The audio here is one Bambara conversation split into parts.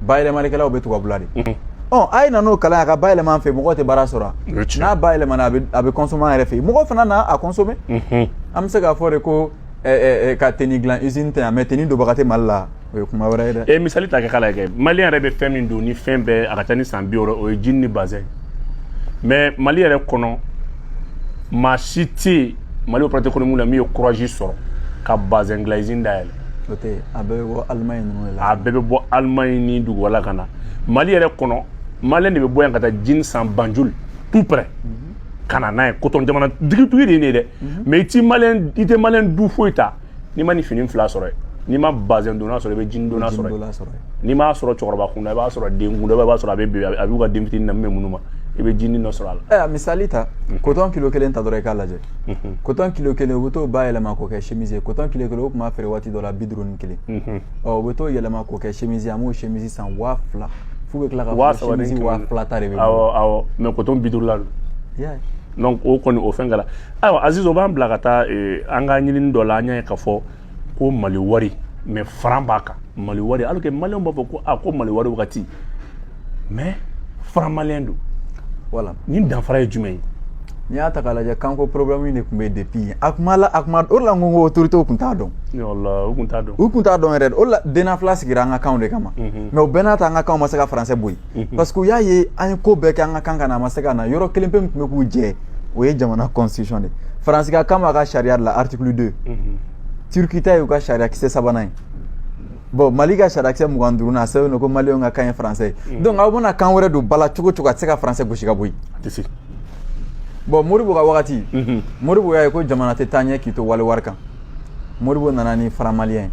bayɛlɛmalikɛlaw bɛ tubabula de ɔ a ye na n'o kalan ye a ka bayɛlɛma an fɛ mɔgɔ tɛ baara sɔrɔ n'a bayɛlɛmana a bɛ consommer an yɛrɛ fɛ mɔgɔ fana na a consommer an bɛ se k'a fɔ de ko ka tenue dilan izini tɛ yan mais tenue donbaga tɛ mali la o ye kuma wɛrɛ ye dɛ e misali ta kɛ k'a lajɛ maliyɛn yɛrɛ bɛ fɛn min don ni fɛn bɛɛ a ka ca ni san bi wɔɔrɔ o ye jini ni bazɛn mais mali yɛrɛ kɔnɔ maa si tɛ yen mali opérateur économique la min ye kuraji sɔrɔ ka bazɛn dilan izini dayɛlɛ o tɛ a bɛɛ bɛ bɔ alimaɲi ninnu de la a bɛɛ bɛ bɔ alimaɲi ni dugu wɛrɛ la ka na mali yɛrɛ kɔnɔ maliyɛn de bɛ bɔ yan ka taa jini san banjul tout près ka na n'a ye kotɔn jamana tigitigi de ye nin ye dɛ mais i tɛ maliyɛn i tɛ maliyɛn du foyi ta n'i ma nin fini fila sɔrɔ yen n'i ma bazɛn donna sɔrɔ i bɛ jini donna sɔrɔ yen n'i m'a sɔrɔ cɛkɔrɔba kunda i b'a sɔrɔ den kunda i b'a sɔrɔ a bɛ bi a b'u ka den fitinin na min bɛ ŋunuma i bɛ jini dɔ sɔrɔ a la misali ta kotɔn kilo kelen ta dɔrɔn i k'a lajɛ kotɔn kilo kelen u bɛ t'o bayɛlɛma k'o kɛ chemise ye kotɔn kilo kelen o tun b'a feere waati dɔ la bi duuru ni kelen ɔ u bɛ t'o yɛlɛma k'o kɛ chemise ye an b'o chemise san waa fila f'u bɛ tila ka Waa fɔ saba ni chemise kɛmɛ waa duuru. fila ta de bɛ bɔ awɔ awɔ mais kotɔn bi duuru la don Yeah. donc o kɔni o fɛn kɛra ayiwa aziz o b'an bila ka taa eh, an ka ɲinini dɔ la an y'a ye k'a fɔ ko mali wari mais franc b'a kan mali wari alors que maliyɛnw b'a fɔ ko a ko mali wari wagati mais franc malien don voilà ni danfara ye jumɛn ye n'i y'a ta k'a lajɛ kanko problème de tun bɛ depuis a kuma la a kuma o de la n ko ko autorités tun t'a dɔn u tun t'a dɔn u tun t'a dɔn yɛrɛ o de la DNAFLA sigira an ka kanw de kama mais o bɛɛ n'a ta an ka kanw ma se ka français bɔ yen parce que u y'a ye an ye ko bɛɛ kɛ an ka kan ka na a ma se ka na yɔrɔ kelen pe min tun bɛ k'u jɛ o ye jamana constitution de faransi ka kan b'a ka sariya de la article 2 turki ta y'u ka sariya kisɛ sabanan ye bon mali ka sariya kisɛ mugan ni duurunan a sɛbɛn don ko maliyɛnw ka kan ye français ye donc aw bɛna kan wɛrɛ don bala cogo o cogo a tɛ se ka français gosi ka bɔ yen bon modibo ka wagati modibo y'a ye ko jamana tɛ taa ɲɛ k'i to wali wari kan modibo nana ni franc malien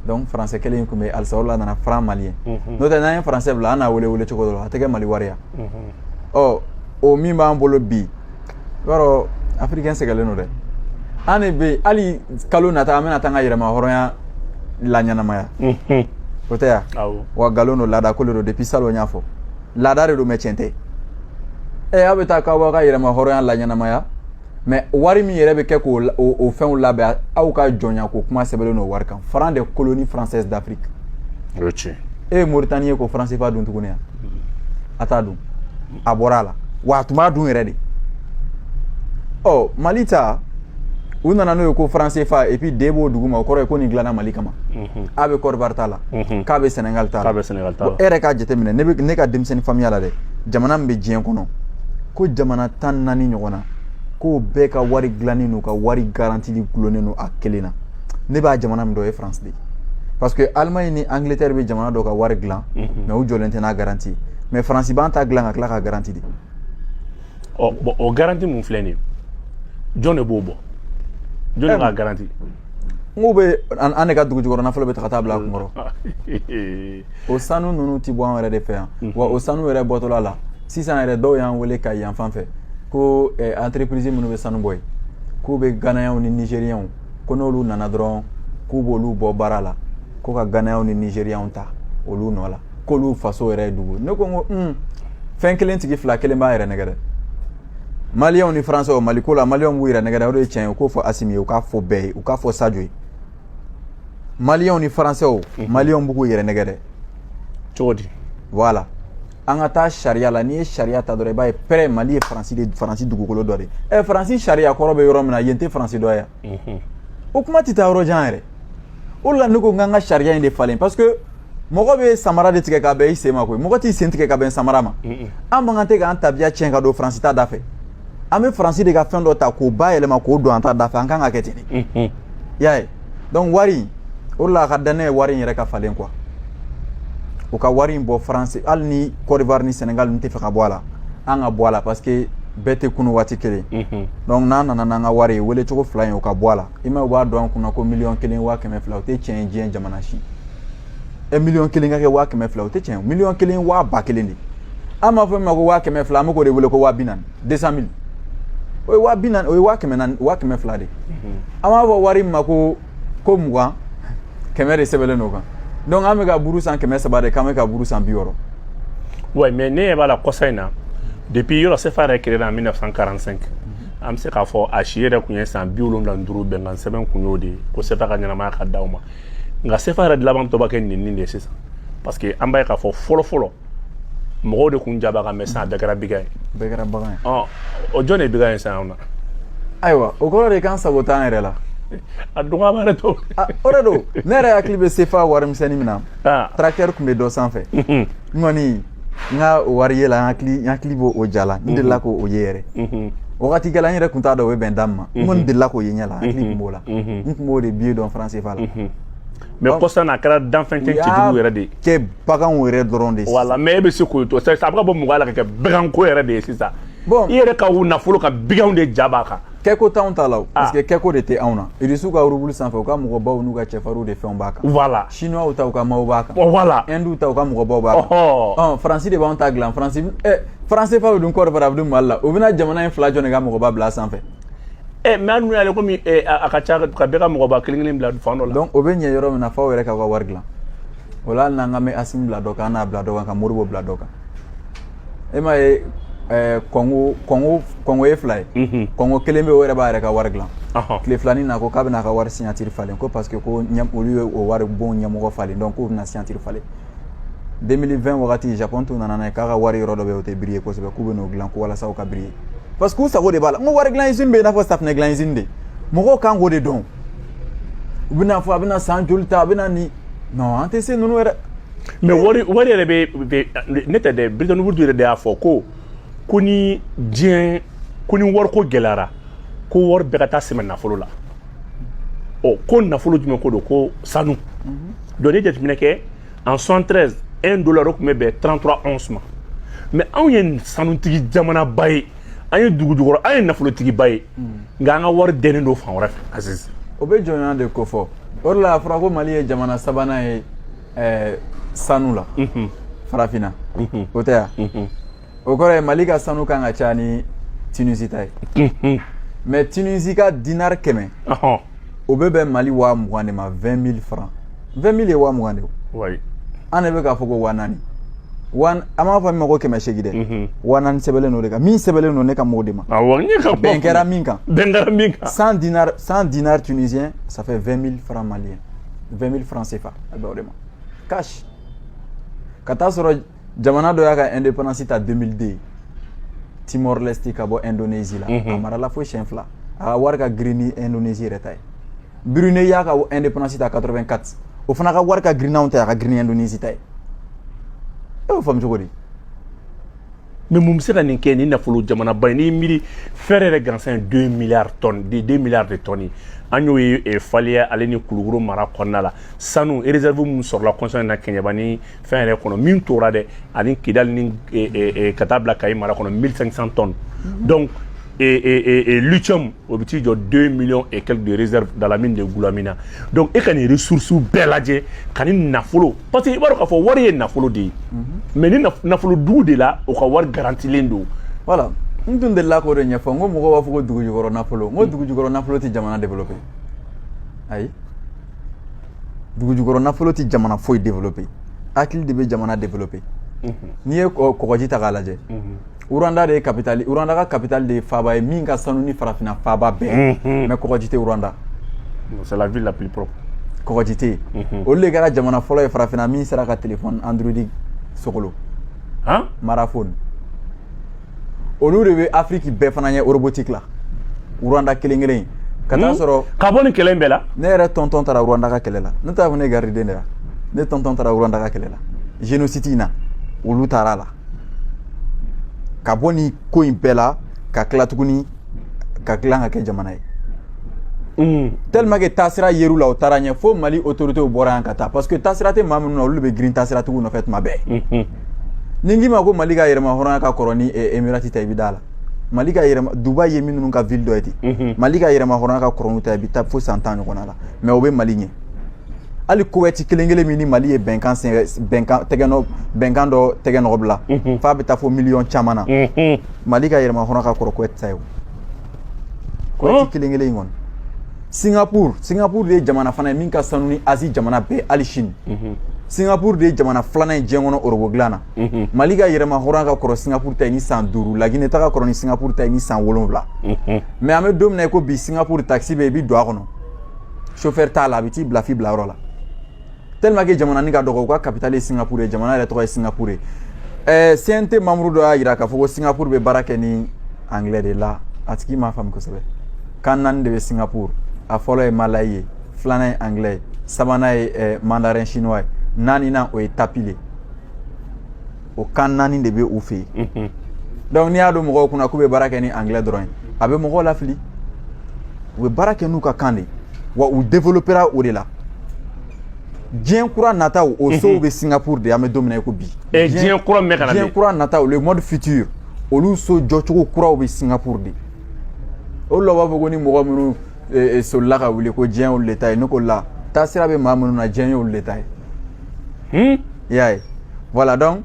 donc français kelen in tun bɛ halisa o de la a nana franc malien mhm. n'o tɛ n'an ye français bila an n'a wele wele cogo dɔ la a tɛ kɛ mali wari ye mhm. ɔ o min b'an bolo bi i b'a dɔn afirikɛn sɛgɛnlen don dɛ an de bɛ hali kalo nata an bɛna taa an ka yɛrɛma hɔrɔnya laɲɛnamaya mhm. o tiɲɛ wa nkalon don laada ko de don depuis salon n y'a fɔ laada de don mais tiɲɛ tɛ ɛ aw bɛ taa k'aw b'aw ka yɛrɛma hɔrɔnya laɲɛnamaya mais wari min yɛrɛ bɛ kɛ k'o o fɛnw labɛn aw ka jɔnya ko kuma sɛbɛnlen don wari kan franc des colonies françaises d'afrique o ye tiɲɛ e ye moritani ye k'o franc CFA dun tuguni yan a t'a dun a bɔra a la wa a tun b'a dun yɛrɛ de ɔ mali ta u nana n'o ye ko franc CFA et puis D b'o duguma o kɔrɔ ye ko nin dilanna mali kama A bɛ kɔdiwari ta la k'a bɛ sɛnɛgali ta k'a bɛ sɛnɛgali ta e yɛrɛ k'a jateminɛ ne bɛ ne ka denmisɛnnin faamuya la dɛ jamana min bɛ diɲɛ kɔnɔ ko jamana tan naani ɲɔgɔn na k'o bɛɛ ka wari dilannen don u ka wari garanti dulonnen don a kelen na ne bɛ jamana min dɔn o ye faransi de ye parce que alimaɲi ni angleterre bɛ jamana dɔ ka wari dilan mais u jɔlen tɛ n'a garanti ye mais faransi b'an ta dilan ka tila k'a garanti de ɔ bon o garanti mun filɛ nin ye jɔn de b'o bɔ jɔn de b'a garanti N'u bɛ an de ka dugu jukɔrɔ nafolo bɛɛ ta ka taa bila a kun kɔrɔ o sanu ninnu tɛ bɔ an yɛrɛ de fɛ yan wa o sanu yɛrɛ bɔtɔla la sisan yɛrɛ dɔw y'an weele Kayi fan fɛ ko entreprise minnu bɛ sanu bɔ yen k'u bɛ ganayɛnw ni nizeriyɛnw ko n'olu nana dɔrɔn k'u b'olu bɔ baara la ko ka ganayɛnw ni nizeriyɛnw ta olu nɔ la k'olu faso yɛrɛ ye dugu ne ko ko fɛn kelen tigi fila kelen b'a yɛrɛ nɛgɛ dɛ maliyɛnw ni faransɛw mali ko la maliyɛnw b'u yɛrɛ nɛgɛ dɛ o de ye tiɲɛ ye u k'o fɔ asimi ye u k'a fɔ bɛɛ ye u k'a fɔ sajo ye maliyɛnw ni faransɛw maliyɛnw bɛ k'u yɛrɛ nɛgɛ dɛ cogo di voilà an ka taa sariya la n'i ye sariya ta dɔrɔn i b'a ye pɛrɛ mali ye faransi de faransi dugukolo dɔ de ye faransi sariya kɔrɔ bɛ yɔrɔ min na yen tɛ faransi dɔ ye o kuma tɛ taa yɔrɔ jan yɛrɛ o de la ne ko n k'an ka sariya in de falen parce que mɔgɔ bɛ samara de tigɛ ka bɛn i sen ma koyi mɔgɔ t'i sen tigɛ ka bɛn samara ma an man kan tɛ k'an tabiya tiɲɛ ka don faransi ta da fɛ an bɛ faransi de ka fɛn dɔ ta k'o bayɛlɛma k'o don an ta da fɛ an kan ka kɛ ten de i y'a ye donc wari o de la a ka di ne ye wari in yɛrɛ ka falen quoi u ka wari in bɔ faransi hali ni Côte d'Ivoire ni Sénégal ninnu tɛ fɛ ka bɔ a la an ka bɔ a la parce que bɛɛ tɛ kunu waati kelen donc n'an nana n'an ka wari ye wele cogo fila in o ka bɔ a la i ma u b'a don an kun na ko miliyɔn kelen waa kɛmɛ fila o tɛ tiɲɛ ye diɲɛ jamana si ɛ miliyɔn kelen ka kɛ waa kɛmɛ fila o tɛ tiɲɛ ye miliyɔn kelen waa ba kelen de an b'a fɔ min ma ko waa kɛmɛ fila an bɛ k'o de wele ko waa bi naani deux cent mille o ye waa bi naani o ye waa kɛmɛ naani waa kɛmɛ fila de an b'a fɔ wari min ma ko ko mugan kɛmɛ de sɛbɛnlen don o kan donc an bɛ ka buru san kɛmɛ saba de k'an bɛ ka buru san bi wɔɔrɔ. oui mais ne ɲɛ b'a la kɔsa in na depuis yɔrɔ sefa yɛrɛ créé la en 1945 an bɛ se k'a fɔ a si yɛrɛ tun ye san bi wolonwula ni duuru bɛnkan sɛbɛn kun y'o de ye ko sefa ka ɲɛnamaya ka d'aw ma. nka sefa yɛrɛ dilaban tɔ bɛ kɛ nɛnini de ye sisan parce que an b'a ye k'a fɔ fɔlɔ fɔlɔ mɔgɔw de kun ja b'a kan mais sisan a bɛɛ kɛra bagan ye bɛɛ kɛra bagan ye ɔ o jɔn de ye bagan ye sisan anw na ayiwa o kɔrɔ de k'an sago t'an yɛrɛ la a dɔgɔya b'a yɛrɛ to Ah, o de don ne yɛrɛ hakili bɛ sefa warimisɛnnin min na Ah. tracteur tun bɛ dɔ sanfɛ n kɔni n ka o wari ye la n hakili n hakili b'o o ja la n delila k'o o ye yɛrɛ Mhm. wagati kɛla n yɛrɛ tun t'a dɔn o bɛ bɛn da min ma n kɔni delila k'o ye ɲɛ la n hakili tun b'o la Mhm. n tun b'o de billet dɔn franc CFA la mhm. mais kɔsa n'a kɛra danfɛn tɛ cɛjugu yɛrɛ de ye kɛ baganw yɛrɛ dɔrɔn de voilà mais e bɛ se k'o to a bɛ ka bɔ mɔgɔ la ka kɛ baganko yɛrɛ de ye sisan bon i yɛrɛ ka u nafolo ka baganw de ja b'a kan kɛko t'anw ta la o ah. parce que kɛko de tɛ anw na irisiw ka rubulu sanfɛ u ka mɔgɔbaw n'u ka cɛfarinw de fɛnw b'a kan voilà chinois ta u ka maaw b'a kan oh, voilà hindu ta u ka mɔgɔbaw b'a kan oh, oh. faransi de b'anw ta dilan franc eh, franc CFA bɛ dun Côte d'Ivoire a bɛ dun mali la o bɛna jamana in fila jɔn de ka mɔgɔba bila sanfɛ ɛ mais an dun y'ale komi a ka ca ka bɛɛ ka mɔgɔba kelen kelen bila fan dɔ la donc o bɛ ɲɛ yɔrɔ min na f'aw yɛrɛ k'aw ka wari dilan o la hali n'an ka mɛ Asimi bila dɔ kan an n'a bila dɔ kan ka Modibo bila dɔ kan e m'a ye kɔngo kɔngo kɔngo ye fila ye kɔngo kelen bɛ o yɛrɛ b'a yɛrɛ ka wari dilan tile fila nin na ko k'a bɛna a ka wari signature falen ko parce que ko olu ye o waribon ɲɛmɔgɔ falen donc k'u bɛna signature falen 2020 wagati japon tun nana n'a ye k'a ka wari yɔrɔ dɔ bɛ yen o tɛ briller kosɛbɛ k'u bɛn'o dilan ko walasa o ka briller parce que u sago de b'a la n ko wari dilan izini bɛ yen i n'a fɔ safinɛ dilan izini de mɔgɔw kan k'o de dɔn u bɛna fɔ a bɛna san joli ta a bɛna nin non an tɛ se ninnu yɛrɛ mais wari wari yɛrɛ bɛ ne tɛ dɛ Bretton Woods yɛrɛ de y'a fɔ ko ko ni diɲɛ ko ni wariko gɛlɛyara ko wari bɛɛ ka taa sɛmɛ nafolo la ɔ ko nafolo jumɛn ko don ko sanu donc ni jateminɛ kɛ en 73 1 dollar o tun bɛ bɛn 33 onces ma mais anw ye sanutigi jamanaba ye an ye dugujukɔrɔ an ye nafolotigiba ye nka an ka wari dɛnnen don fan wɛrɛ fɛ azizi o bɛ jɔnya de kofɔ o de la a fɔra ko mali ye jamana sabanan ye sanu la farafinna o tɛ yan o kɔrɔ ye mali ka sanu kan ka ca ni tunisi ta ye mais tunisi ka dinari kɛmɛ o bɛ bɛn mali waa mugan de ma 20 mille franc 20 mille ye waa mugan de o an de bɛ k'a fɔ ko waa naani an b'a fɔ min ma ko kɛmɛ seegin dɛ waa naani sɛbɛnlen don o de kan min sɛbɛnlen don ne kan b'o de ma bɛn kɛra min kan bɛn kɛra min kan cent dinars cent dinars tunisiens ça fait 20 mille franc malien 20 mille franc CFA a bɛ o de ma cash ka taa sɔrɔ jamana dɔ y'a ka indépendance ta 2002 Timor Leste ka bɔ Indonésie la a marala fo siyɛn fila a ka wari ka girin ni Indonésie yɛrɛ ta ye Brunei y'a ka indépendance ta 84 o fana ka wari ka girin n'anw ta ye a ka girin ni Indonésie ta ye e y'o faamu cogo di mais mun bɛ se ka nin kɛ ni nafolo jamanaba ye n'i miiri fer yɛrɛ gansan ye 2 milliards tonnes de 2 milliards de tonnes an y'o ye faliya ale ni kulukoro mara kɔnɔna la sanu réserve minnu sɔrɔla kɔsa in na kɛɲɛba ni fɛn yɛrɛ kɔnɔ min tora dɛ ani kidali ni eh, eh, eh, ka taa bila kayi mara kɔnɔ 1500 tonnes mhm. donc lithium o bɛ t'i jɔ 2 millions et quelques de réserve dans la mine de Goulamina donc e ka nin ressources bɛɛ lajɛ ka nin nafolo parce que i b'a dɔn k'a fɔ wari ye nafolo de ye mhm. mais ni nafolo dugu de la o ka wari garantilen don voilà n tun delila k'o de ɲɛfɔ n ko mɔgɔw b'a fɔ ko dugujukɔrɔ nafolo n ko mm. dugujukɔrɔ nafolo tɛ jamana développer ayi dugujukɔrɔ nafolo tɛ jamana foyi développé hakili de bɛ jamana développé mhm. n'i ye kɔgɔji ta k'a lajɛ mhm. Rwanda de ye capitale Rwanda ka capitale de ye faaba ye min ka sanu ni farafinna faaba bɛɛ mhm. mais kɔgɔji tɛ Rwanda c'est la ville la plus propre kɔgɔji tɛ yen olu de kɛra jamana fɔlɔ ye farafinna min sera ka téléphone android sogolon Mara Phone olu de bɛ afiriki bɛɛ fana ɲɛ robotique la Rwanda kelen kelen ka taa hmm? sɔrɔ ka bɔ nin kɛlɛ in bɛɛ la ne yɛrɛ tonton taara Rwanda ka kɛlɛ la ne t'a fɔ ne gariden de la ne tonton taara Rwanda ka kɛlɛ la génocide in na olu taara a la ka bɔ nin ko in bɛɛ la ka tila tuguni ka dilan ka kɛ jamana ye hmm. tellement que taasira yer'u la u taara ɲɛ fo mali autorités bɔra yan ka taa parce que taasira tɛ maa minnu na olu de bɛ girin taasiratigiw nɔfɛ tuma bɛɛ hmm, ni n k'i ma ko mali ka yɛrɛmahɔrɔnya ka kɔrɔ ni eh, emirati ta i bɛ d'a la mali ka yɛrɛma dubai ye minnu ka ville dɔ ye ten mhm. mali ka yɛrɛmahɔrɔnya ka kɔrɔ n'u ta ye i bɛ taa fo san tan ɲɔgɔnna la mais o bɛ mali ɲɛ hali kowɛti kelen kelen min ni mali ye bɛnkan bɛnkan tɛgɛnɔ bɛnkan dɔ tɛgɛ nɔgɔ bila mhm. f'a bɛ taa fo miliyɔn caman na mhm. mali ka yɛrɛmahɔrɔnya ka kɔrɔ kowɛti ta ye o Kowɛti oh. kelen kelen in kɔni singapur singapur de ye jamana fana ye min ka sanu ni Asie jamana bɛɛ hali Chine mhm. singapur de ye jamana filanan ye diɲɛ kɔnɔ robot dilan na mhm. mali ka yɛrɛmahɔrɔnya ka kɔrɔ singapur ta ye ni san duuru lagine ta ka kɔrɔ ni singapur ta ye ni san wolonwula mais mhm. an bɛ don min na i ko bi singapur takisi bɛ i bɛ don a kɔnɔ chauffeur t'a la a bɛ t'i bila f'i bilayɔrɔ la tellement que jamana nin ka dɔgɔ u ka capitale ye singapour ye jamana yɛrɛ tɔgɔ ye singapour ye ɛɛ CNT membre dɔ y'a yira k'a fɔ ko singapour bɛ baara kɛ ni anglais de la a tigi m'a faamu kosɛbɛ kan naani de bɛ singapour a fɔlɔ ye malayi ye filanan ye anglais ye sabanan ye ɛɛ mandarin chinois ye naaninan o ye tamil o kan naani de bɛ u fɛ yen donc n'i y'a don mɔgɔw kunna k'u bɛ baara kɛ ni anglais dɔrɔn ye a bɛ mɔgɔw lafili u bɛ baara kɛ n'u ka kan de ye wa u développera o de la diɲɛ kura nataw o sow bɛ singapuru de an bɛ don min na i ko bi diɲɛ kura min bɛ ka na diɲɛ kura nataw le monde futur olu so jɔcogo kuraw bɛ singapuru de o de la u b'a fɔ ko ni mɔgɔ minnu e, e, solila ka wuli ko diɲɛ y'olu de ta ye ne ko la taasira bɛ maa minnu na diɲɛ y'olu de ta ye hmm? i y'a ye voilà donc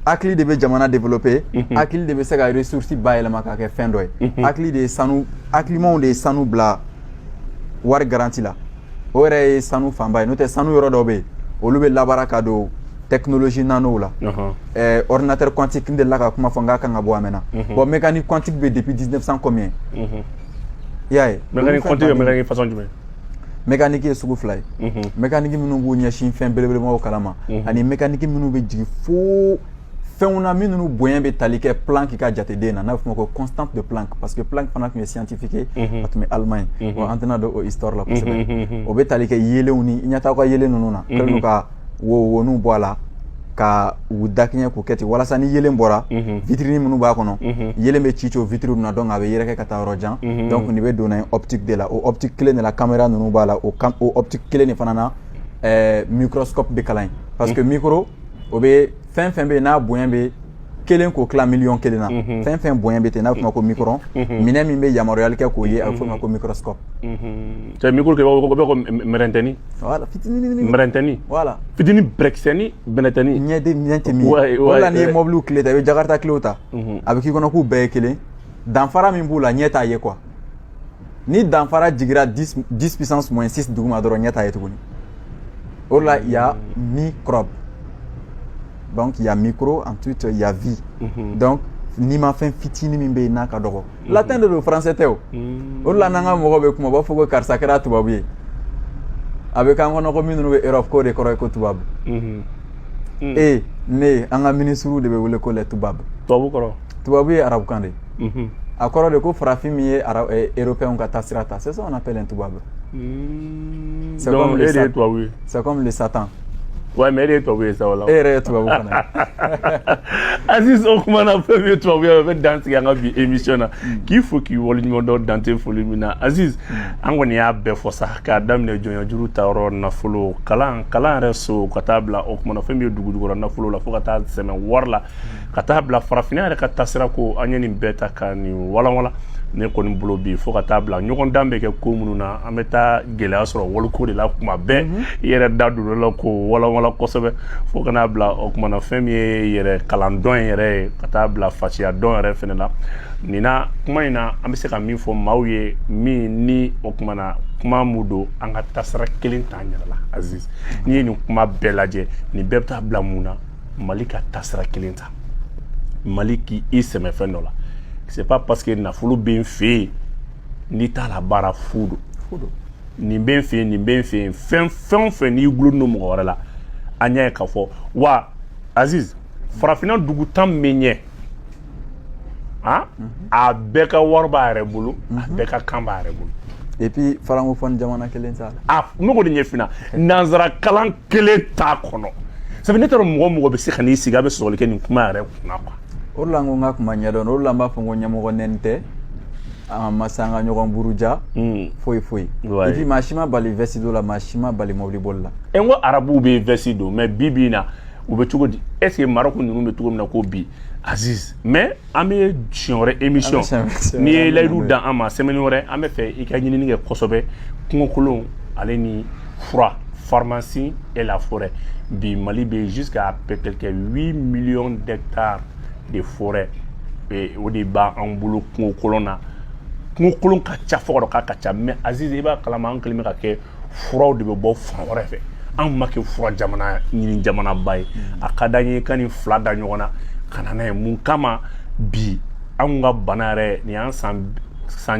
hakili de bɛ jamana développer mhm. hakili de bɛ se ka ressource bayɛlɛma k'a kɛ fɛn dɔ ye mhm. hakili de ye sanu hakilimaw de ye sanu bila wari garanti la o yɛrɛ ye sanu fanba ye n'o tɛ sanu yɔrɔ dɔw bɛ yen olu bɛ labaara ka don technologie nanow la eh, ordinateur quantique n delila k'a kuma fɔ n k'a kan ka bɔ a mɛnna mhm. bon mécanique quantique bɛ depuis 1900 combien i y'a ye mécanique quantique bɛ mécanique façon jumɛn mécanique ye sugu fila ye mécanique minnu b'u ɲɛsin fɛn belebelemaw kalan ma ani mécanique minnu bɛ jigin fo fɛnw na minnu bonya bɛ tali kɛ Planck ka jateden na n'a bɛ f'o ma ko constante de Planck parce que Planck fana tun ye scientifique ye a tun bɛ allemagne wa an tɛna don o histoire la kosɛbɛ o bɛ tali kɛ yeelenw ni i ɲɛ t'aw ka yeelen ninnu na kɛlen don ka wowoninw bɔ a la ka u dakɛɲɛ k'u kɛ ten walasa ni yeelen bɔra mhm. vitrine minnu b'a kɔnɔ mhm. yeelen bɛ ci ci o vitrine na donc a bɛ yɛrɛkɛ ka taa yɔrɔ jan mhm. donc nin bɛ donna ye optique de la o optique kelen de la caméra ninnu b'a la o optique kelen de fana na eh, microscope bɛ kalan ye parce que micro o bɛ fɛn fɛn bɛ yen n'a bonya bɛ kelen k'o tila miliyɔn kelen na mhm. fɛn fɛn bonya bɛ ten n'a bɛ f'o ma ko micron mhm. mhm. minɛn min bɛ yamaruyali kɛ k'o ye a bɛ f'o ma ko microscope. c'est micro kɛ o bɛ ko mɛrɛntɛni. wala fitinin. mɛrɛntɛni. voilà fitinin bɛrɛkisɛni bɛnɛtɛni. ɲɛden ɲɛ tɛ min ye o de la n'i ye mɔbiliw kile ta i bɛ jakarta kilew ta a bɛ k'i kɔnɔ k'u bɛɛ ye kelen danfara min b'u la ɲɛ t'a ye quoi. ni danfara jigira 10 puissance moins 6 duguma dɔrɔn ɲɛ t'a ye tuguni o la il y a microbe donc il y a micro ensuite il y a vie mhm. donc nimafɛn fitini min bɛ yen n'a ka dɔgɔ mhm. latin de don français tɛ o mhm. o de la n'an ka mɔgɔw bɛ kuma u b'a fɔ ko karisa kɛra tubabu ye a bɛ k'an kɔnɔ ko minnu bɛ europe k'o de kɔrɔ ye ko tubabu e ne an ka minisiriw de bɛ wele ko les tubabu tubabu kɔrɔ tubabu ye arabukan de ye a kɔrɔ de ko farafin min ye européen ka taasira ta c'est ça on appelle un tubabu hmm. c'est comme le satan c'est comme le satan Ouais, mais e de ye tubabu ye sa o la. E yɛrɛ ye tubabu fana ye. Aziz o kuma na fɛn min ye tubabu ye o bɛ dan sigi an ka bi émission na hmm. k'i fo k'i waleɲuman dɔn Dante foli min na Aziz hmm. an kɔni y'a bɛɛ fɔ sa k'a daminɛ jɔnya juru ta yɔrɔ nafolo kalan kalan yɛrɛ so ka taa bila o kuma na fɛn min ye dugujukɔrɔ nafolo la fo ka taa sɛmɛ wari la. ka taa bila farafinna yɛrɛ ka taasira ko an ye nin bɛɛ ta ka nin walanwalan ne kɔni bolo bi fo ka taa bila ɲɔgɔn dan bɛ kɛ ko minnu na an bɛ taa gɛlɛya sɔrɔ waliko de la kuma bɛɛ mhm. i yɛrɛ da don o la k'o walanwalan kosɛbɛ fo ka na bila o kuma na fɛn min ye yɛrɛ kalan dɔn yɛrɛ ye ka taa bila fasiya dɔn yɛrɛ fɛnɛ la nin na kuma in na an bɛ se ka min fɔ maaw ye min ni o kuma na kuma mun don an ka taasira kelen t'an yɛrɛ la aziz n'i ye nin kuma bɛɛ lajɛ nin bɛɛ bɛ taa bila mun na mali ka taasira kelen ta mali k'i sɛmɛ fɛn dɔ la c'est pas parce que nafolo bɛ n fɛ yen n'i t'a labaara fu don nin bɛ n fɛ yen nin bɛ n fɛ yen fɛn fɛn o fɛn n'i gulonnen don mɔgɔ wɛrɛ la an y'a ye k'a fɔ wa aziz farafinna dugu tan min ɲɛ ah a bɛɛ ka wari b'a yɛrɛ bolo a mhm. bɛɛ ka kan b'a yɛrɛ bolo et puis francophone jamana kelen t'a la a ne ko de ɲɛfina nanzara kalan kelen t'a kɔnɔ sabu ne t'a dɔn mɔgɔ mɔgɔ bɛ se ka n'i sigi a bɛ sɔsɔli kɛ nin kuma yɛrɛ kunna quoi o de la n ko n ka kuma ɲɛdɔn o de la n b'a fɔ n ko ɲɛmɔgɔ nɛni tɛ an ma se an ka ɲɔgɔn buruja hmm. foyi foyi et puis maa si ma bali vɛsi don la maa si ma bali mɔbili boli la e n ko arabuw bɛ vɛsi don mais bi bi in na u bɛ cogo di est ce que Maroc ninnu bɛ cogo min na ko bi Aziz mais an bɛ siɲɛ wɛrɛ émission n'i ye layidu d'an ma semaine wɛrɛ an bɛ fɛ i ka ɲinini kɛ kosɛbɛ kungokolon ale ni fura pharmacie et la forêt bi Mali bɛ jusqu'à quelque 8 millions d'hectares de forêt o de b'an bolo kungokolon na kungokolon ka ca fo ka dɔ k'a ka ca mais Aziz i b'a kalama an kɛlen bɛ ka kɛ furaw de bɛ bɔ fan wɛrɛ fɛ anw ma kɛ fura jamana ɲini jamanaba ye a ka d'an ye ka nin fila da ɲɔgɔn na ka na n'a ye mun kama bi anw ka bana yɛrɛ nin y'an san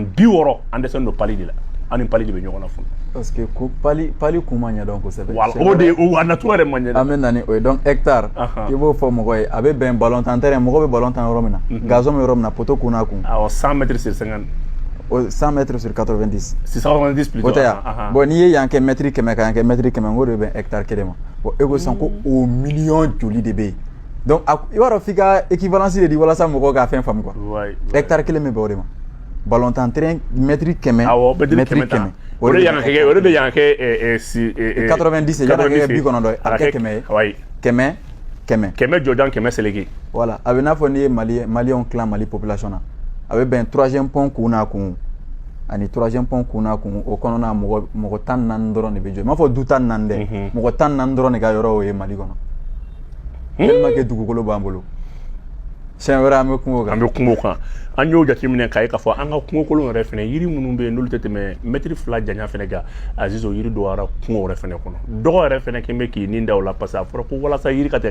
bi wɔɔrɔ an dɛsɛlen don pali de la an ni pali de bɛ ɲɔgɔn na fɔlɔ parce que ko pali pali kun ma ɲɛdɔn kosɛbɛ voilà o de o a nature yɛrɛ ma ɲɛdɔn an bɛ na ni o ye donc hectare i b'o fɔ mɔgɔ ye a bɛ bɛn balon tan terrain mɔgɔ bɛ balon tan yɔrɔ min na gazon bɛ yɔrɔ min na poteau kun n'a kun awɔ 100 mètres sur 50 O 100 mètres sur 90. Sur 90 plutôt. O tɛ yan. Ah, ah, ah. Bon n'i ye yan kɛ mètre kɛmɛ ka yan kɛ mètre kɛmɛ o de bɛ hectare kelen ma. Bon e ko sisan ko mm. o miliyɔn joli de bɛ yen. Donc a i b'a dɔn f'i ka équivalence de di walasa mɔgɔw ka fɛn faamu quoi. Ouais. Hectare kelen bɛ bɛn o de ma. Balontan terrain mètre kɛmɛ. Awɔ mètre kɛmɛ. O de yan kɛ o de bɛ yan kɛ 90 yan kɛ bi kɔnɔntɔn ye a kɛ kɛmɛ ye. Kɛmɛ kɛmɛ kɛmɛ jɔjan kɛmɛ seleke voilà a bɛ n'a fɔ n'i ye mali maliyɛnw tilan mali population na a bɛ bɛn troisième pont kun n'a kun ani troisième pont kun n'a kun o kɔnɔna mɔgɔ tan ni naani dɔrɔn de bɛ jɔ n m'a fɔ du tan ni naani dɛ mɔgɔ tan ni naani dɔrɔn de ka yɔrɔ o ye mali kɔnɔ tellement que dugukolo b'an bolo siɲɛ wɛrɛ an bɛ kuma o kan an bɛ kuma o kan an y'o jateminɛ k'a ye k'a fɔ an ka kungokolon yɛrɛ fɛnɛ yiri minnu bɛ yen n'olu tɛ tɛmɛ mɛtiri fila janya fɛnɛ kan aziz o yiri dɔgɔyara kungo yɛrɛ fɛnɛ kɔnɔ dɔgɔ yɛrɛ fɛnɛ kɛlen bɛ k'i ni da o la parce que a fɔra ko walasa yiri ka tɛ